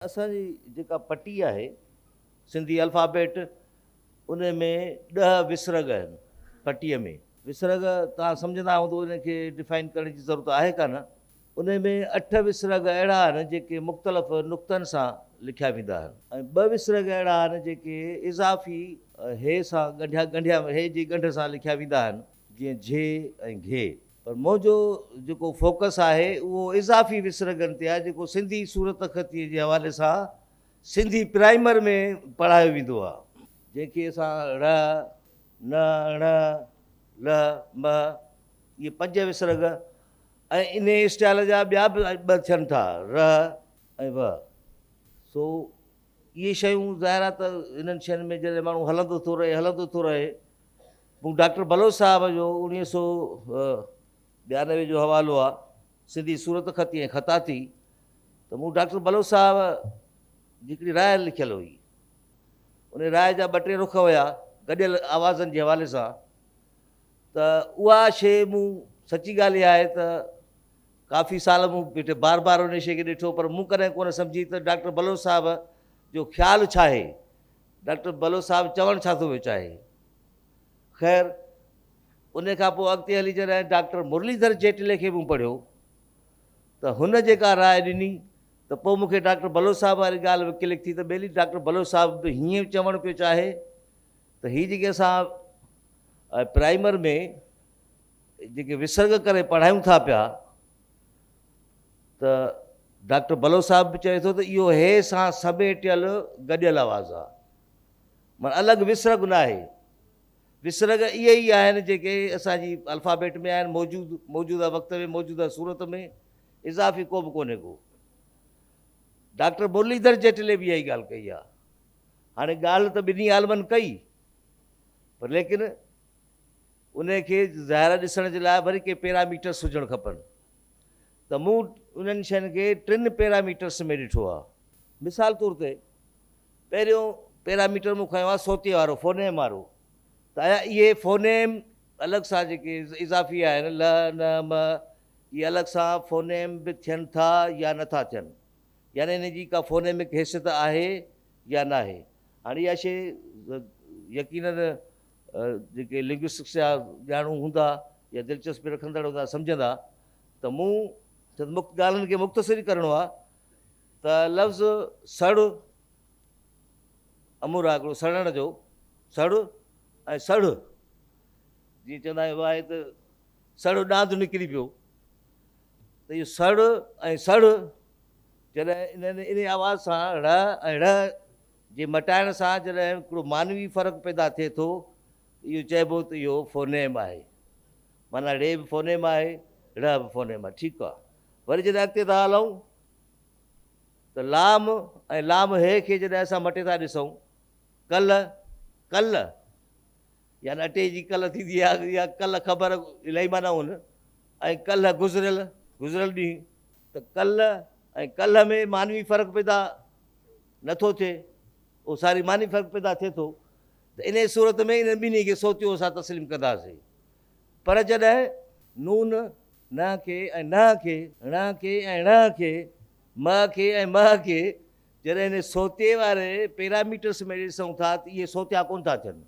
اسان جي جيڪا پٽي آهي سنڌي الفابيٽ ان ۾ ڏهه وسرڳ آهن پٽي ۾. وسرڳ توهان سمجهندا هوندو ان کي ڊفائن ڪرڻ جي ضرورت آهي ڪانه. ان ۾ اٺ وسرڳ اهڙا آهن جيڪي مختلف نقطن سان لکيا ويندا آهن. ۽ ٻه وسرڳ اهڙا آهن جيڪي اضافي هي سان ڳنڍيا ڳنڍيا هي جي ڳنڍ سان لکيا ويندا آهن جيئن جھي ۽ گھي. پر منهنجو جيڪو فوڪس آهي اهو اضافي وسرڳن تي آهي جيڪو سنڌي صورتخطيء جي حوالي سان سنڌي پرائمر ۾ پڙهايو ويندو آهي. جنهن کي اسان ڙ، ن، ڻ، ل، م اهي پنج وسرڳ ۽ انهيء اسٽائيل جا ٻيا به ٻه ٿين ٿا ر ۽ و سو اهي شيون ظاهر آهي ته انهن شين ۾ جڏهن ماڻهو هلندو ٿو رهي هلندو ٿو رهي مون ڊاڪٽر بلوچ صاحب جو اوڻيهه سؤ ٻيانوي جو حوالو آ، سنڌي صورت خطي ۽ خطاطي، ته مون ڊاڪٽر بلوچ صاحب جي هڪڙي راء لکيل هئي. انهيء راء جا ٻه ٽي رخ هيا، گڏيل آوازن جي حوالي سان، ته اها شيء مون سچي ڳالهه اها آهي ته ڪافي سال مون ويٺي بار بار انهيء شيء کي ڏٺو، پر مون ڪڏهن ڪونه سمجهي ته ڊاڪٽر بلوچ صاحب جو خيال ڇا هي؟ ڊاڪٽر بلوچ صاحب چوڻ ڇا ٿو وچاهي؟ خير انهي کان پوء اڳتي هلي جڏهن ڊاڪٽر مرليڌر جيٽلي کي مون پڙهيو ته هن جيڪا راء ڏني ته پوء مون کي ڊاڪٽر بلوچ صاحب واري ڳالهه به ڪلڪ ٿي ته ٻيلي ڊاڪٽر بلوچ صاحب به هيئن چوڻ پيو چاهي ته هي جيڪي اسان پرائمر ۾ جيڪي وسرڳ ڪري پڙهايون ٿا پيا ته ڊاڪٽر بلوچ صاحب به چوي ٿو ته اهو هي سان سميٽيل گڏيل آواز آ. معني الڳ وسرڳ ناهي. وسرڳ اهي ئي آهن جيڪي اسان جي الفابيٽ ۾ آهن موجود موجوده وقت ۾ موجوده صورت ۾ اضافي ڪو به ڪونهي ڪو. ڊاڪٽر مرليڌر جيٽلي به اها ئي ڳالهه ڪئي آ. هاڻي ڳالهه ته ٻنهي عالمن ڪئي پر ليڪن انهي کي ظاهرا ڏسڻ جي لاء وري ڪي پيرا ميٽرس هجڻ کپن ته مون انهن شين کي ٽن پيرا ميٽرس ۾ ڏٺو آهي. مثال طور تي پهريون پيرا ميٽر مون کنيو آهي صوتي وارو، فونيم وارو، ته آيا اهي فونيم الڳ سان جيڪي اضافي آهن لھ، نھ، مھ اهي الڳ سان فونيم به ٿين ٿا يا نه ٿا ٿين يعني انهن جي ڪا فونيمڪ حيثيت آهي يا ناهي. هاڻي اها شيء يقينن جيڪي لنگوسٽڪس جا ڄاڻو هوندا يا دلچسپي رکندڙ هوندا سمجهندا ته مون چند ڳالهين کي مختصر ئي ڪرڻو آهي ته لفظ سڙ امور آهي هڪڙو سڙڻ جو سڙ ۽ سڙ جي چوندا آهيون آهي ته سڙ ڏاند نڪري پيو ته اهو سڙ ۽ سڙ جڏهن انهن ان آواز سان ڙ ۽ ڙ جي مٽائڻ سان جڏهن هڪڙو معنوي فرق پيدا ٿئي ٿو ته اهو چئبو ته اهو فونيم آهي. معنيٰ ڙي به فونيم آهي، ڙهه به فونيم آهي. ٺيڪ آهي. وري جڏهن اڳتي ٿا هلون ته لام ۽ لام هي کي جڏهن اسان مٽي ٿا ڏسون، ڪل، ڪل، يعني اٽي جي ڪل ٿيندي آهي يا ڪل خبر الائي معنيٰ هن ۽ ڪلهه گذريل، گذريل ڏينهن، ته ڪل ۽ ڪلهه ۾ معنوي فرق پيدا. نه ٿو ٿئي، اهو ساري معني فرق پيدا ٿئي ٿو ته انهيء صورت ۾ انهن ٻنهي کي صوتيو اسان تسليم ڪنداسين. پر جڏهن نون، نه، کي ۽ نه کي، ڻ، کي ۽ ڻ، کي، مه، کي ۽ مه، کي، جڏهن انهيء صوتيي واري پيراميٽرس ۾ ڏسون ٿا ته اهي صوتيا ڪونه ٿا ٿين.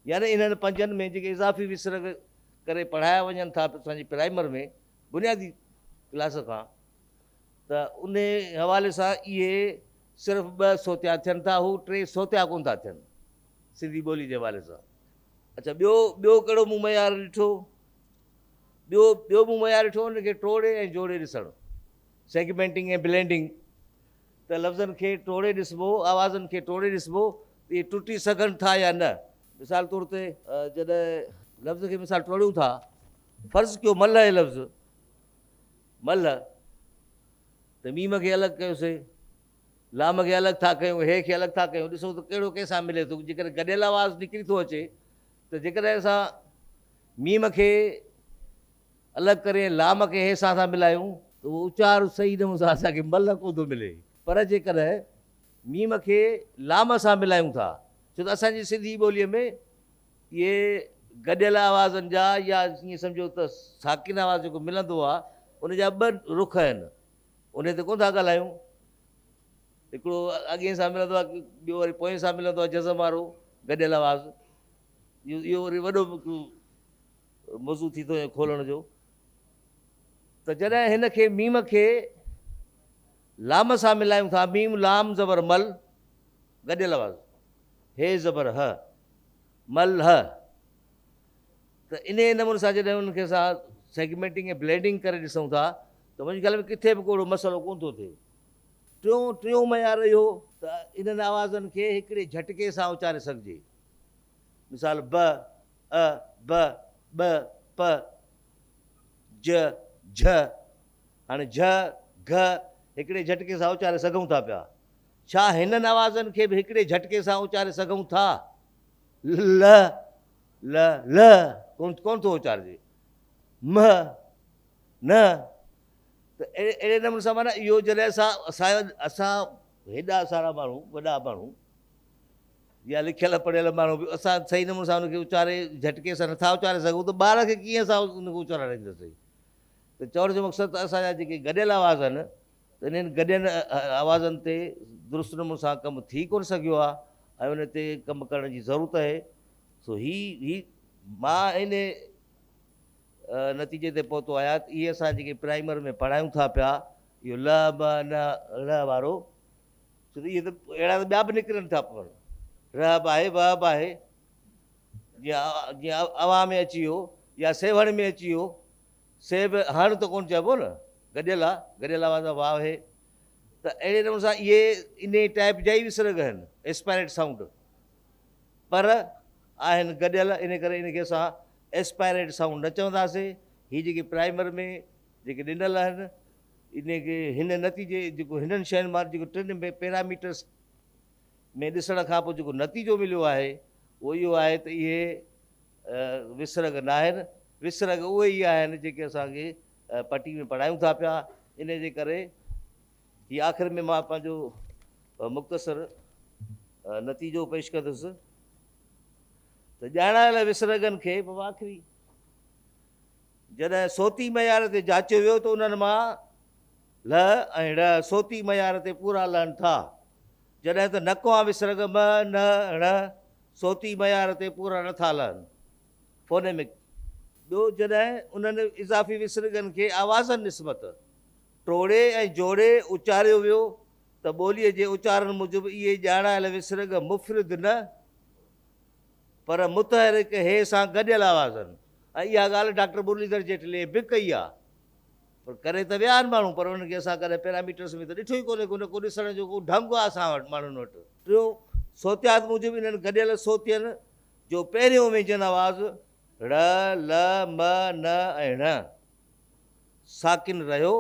يعني انهن پنجن ۾ جيڪي اضافي وسرڳ ڪري پڙهايا وڃن ٿا اسان جي پرائمر ۾ بنيادي ڪلاس کان ته انهي حوالي سان اهي صرف ٻه سوتيا ٿين ٿا هو ٽي سوتيا ڪونه ٿا ٿين سنڌي ٻولي جي حوالي سان اڇا ٻيو ٻيو ڪهڙو مون معيار ڏٺو ٻيو ٻيو مون معيار ڏٺو ان کي ٽوڙي ۽ جوڙي ڏسڻ سيگمينٽنگ ۽ بلينڊنگ ته لفظن کي ٽوڙي ڏسبو آوازن کي ٽوڙي ڏسبو اهي ٽٽي سگهن ٿا يا نه مثال طور تي جڏهن لفظ کي مثال ٽوڙيون ٿا فرض ڪيو ملهه لفظ ملهه، ته ميم کي الڳ ڪيو سي، لام کي الڳ ٿا ڪيون، هي کي الڳ ٿا ڪيون، ڏسون ته ڪهڙو ڪنهن سان ملي ٿو، جيڪڏهن گڏيل آواز نڪري ٿو اچي ته جيڪڏهن اسان ميم کي الڳ ڪري لام کي هي سان ٿا ملايون، ته اهو اچار صحيح نه هوندو، اسان کي ملهه ڪونه ٿو ملي، پر جيڪڏهن ميم کي لام سان ملايون ٿا، ڇو ته اسان جي سنڌي ٻوليء ۾ اهي گڏيل آوازن جا يا ائين سمجهو ته ساڪن آواز جيڪو ملندو آهي ان جا ٻه رخ آهن انهي تي ڪونه ٿا ڳالهايون هڪڙو اڳئين سان ملندو آهي ٻيو وري پوئين سان ملندو آهي جزم وارو گڏيل آواز اهو وري وڏو موضوع ٿي ٿو کولڻ جو ته جڏهن هن کي ميم کي لام سان ملايون ٿا ميم لام زبر مل گڏيل آواز هي زبر ه ملهه ته انهيء نموني سان جڏهن انهن کي اسان سيگمينٽنگ ۽ بلينڊنگ ڪري ڏسون ٿا ته منهنجي خيال ۾ ڪٿي به ڪو اهڙو مسئلو ڪونه ٿو ٿئي. ٽيون ٽيون معيار اهو ته انهن آوازن کي هڪڙي جهٽڪي سان اچاري سگهجي. مثال، ب، ء، ب، ٻ، پ، ج، جهه. هاڻي جهه، گهه هڪڙي جهٽڪي سان اچاري سگهون ٿا پيا. ڇا هنن آوازن کي به هڪڙي جهٽڪي سان اچاري سگهون ٿا؟ لھ، لھ، لھ ڪونه ڪونه ٿو اچارجي. مھ، نھ ته اهڙي نموني سان معنيٰ اهو جڏهن اسان اسان جو اسان هيڏا سارا ماڻهو وڏا ماڻهو يا لکيل پڙهيل ماڻهو به اسان صحيح نموني سان ان کي اچاري جهٽڪي سان نٿا اچاري سگهون ته ٻار کي ڪيئن اسان ان کي اچارائينداسين ته چوڻ جو مقصد ته اسان جا جيڪي گڏيل آواز آهن ته انهن گڏين آوازن تي درست نموني سان ڪم ٿي ڪونه سگهيو آهي ۽ ان تي ڪم ڪرڻ جي ضرورت اهي سو هي هي مان ان نتيجي تي پهتو آهيان ته اهي اسان جيڪي پرائمر ۾ پڙهايون ٿا پيا اهو ل م ن ڙ وارو ڇو ته اهي ته اهڙا ته ٻيا به نڪرن ٿا پون ر به آهي و به آهي جيئن جيئن اوهان ۾ اچي ويو يا سيوهڻ ۾ اچي ويو سي به هاڻ ته ڪونه چئبو نه گڏيل آ گڏيل آواز آ واء هي ته اهڙي نموني سان اهي انهي ٽائيپ جا ئي به سرڳ آهن ايسپائريٽ سائونڊ پر آهن گڏيل ان ڪري ان کي اسان ايسپائريٽ سائونڊ نه چونداسي هي جيڪي پرائمر ۾ جيڪي ڏنل آهن ان کي هن نتيجي جيڪو هنن شين مان جيڪو ٽن ۾ پيراميٽرس ۾ ڏسڻ کان پوء جيڪو نتيجو مليو آهي اهو اهو آهي ته اهي وسرڳ ناهن، وسرڳ اهي ئي آهن جيڪي اسان کي پٽي ۾ پڙهايون ٿا پيا، انهيء جي ڪري هي آخر ۾ مان پنهنجو مختصر نتيجو پيش ڪندس ته ڄاڻايل وسرڳن کي به آخري جڏهن صوتي معيار تي جاچيو ويو ته انهن مان لھ ۽ ڙھ صوتي معيار تي پورا لھن ٿا، جڏھن ته نڪواء وسرڳ مھ، نھ ۽ ڻھ صوتي معيار تي پورا نھ ٿا لھن. Phonemic. ٻيو جڏھن انھن اضافي وسرڳن کي آوازن نسبت ٽوڙي ۽ جوڙي اچاريو ويو ته ٻوليء جي اچارڻ موجب اھي ڄاڻايل وسرڳ مفرد نھ پر متحرڪ ھي سان گڏيل آوازن ۽ اھا ڳالھھ ڊاڪٽر مرليڌر جيٽليء بھ ڪئي آھي. پر ڪري ته ويا آهن ماڻهو پر انهن کي اسان ڪڏهن پيراميٽرس ۾ ته ڏٺو ئي ڪونهي ان ڪو ڏسڻ جو ڪو ڍنگ آهي اسان وٽ ماڻهن وٽ. ٽيون، صوتيات موجب انهن گڏيل صوتين جو پهريون وينجن آواز ڙ، ل، م، ن ۽ ڻ ساڪن رهيو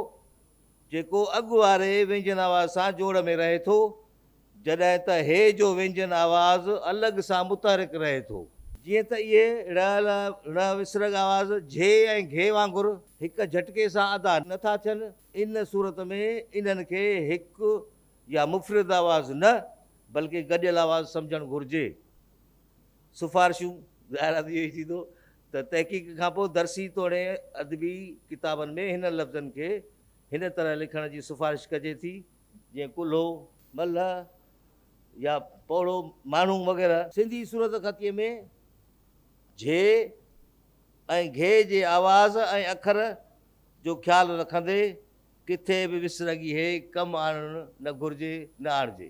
جيڪو اڳ واري وينجن آواز سان جوڙ ۾ رهي ٿو، جڏهن ته هي جو وينجن آواز الڳ سان متحرڪ رهي ٿو. جيئن ته اهي ڙ، ل، ڙ وسرڳ آواز جھي ۽ گھي وانگر هڪ جھٽڪي سان ادا نه ٿا ٿين، ان صورت ۾ انهن کي هڪ يا مفرد آواز نه بلڪه گڏيل آواز سمجھڻ گھرجي. سفارشون، ظاهر آهي ته اهو ئي ٿيندو ته تحقيق کان پوء درسي توڻي ادبي ڪتابن ۾ هنن لفظن کي هن طرح لکڻ جي سفارش ڪجي ٿي. جيئن ڪلهو، ملهه يا پوڙهو ماڻهو وغيره. سنڌي صورتخطيء ۾ جھي ۽ گھي جي آواز ۽ اکر جو خيال رکندي ڪٿي به وسرڳي هي ڪم آڻڻ نه گھرجي نه آڻجي.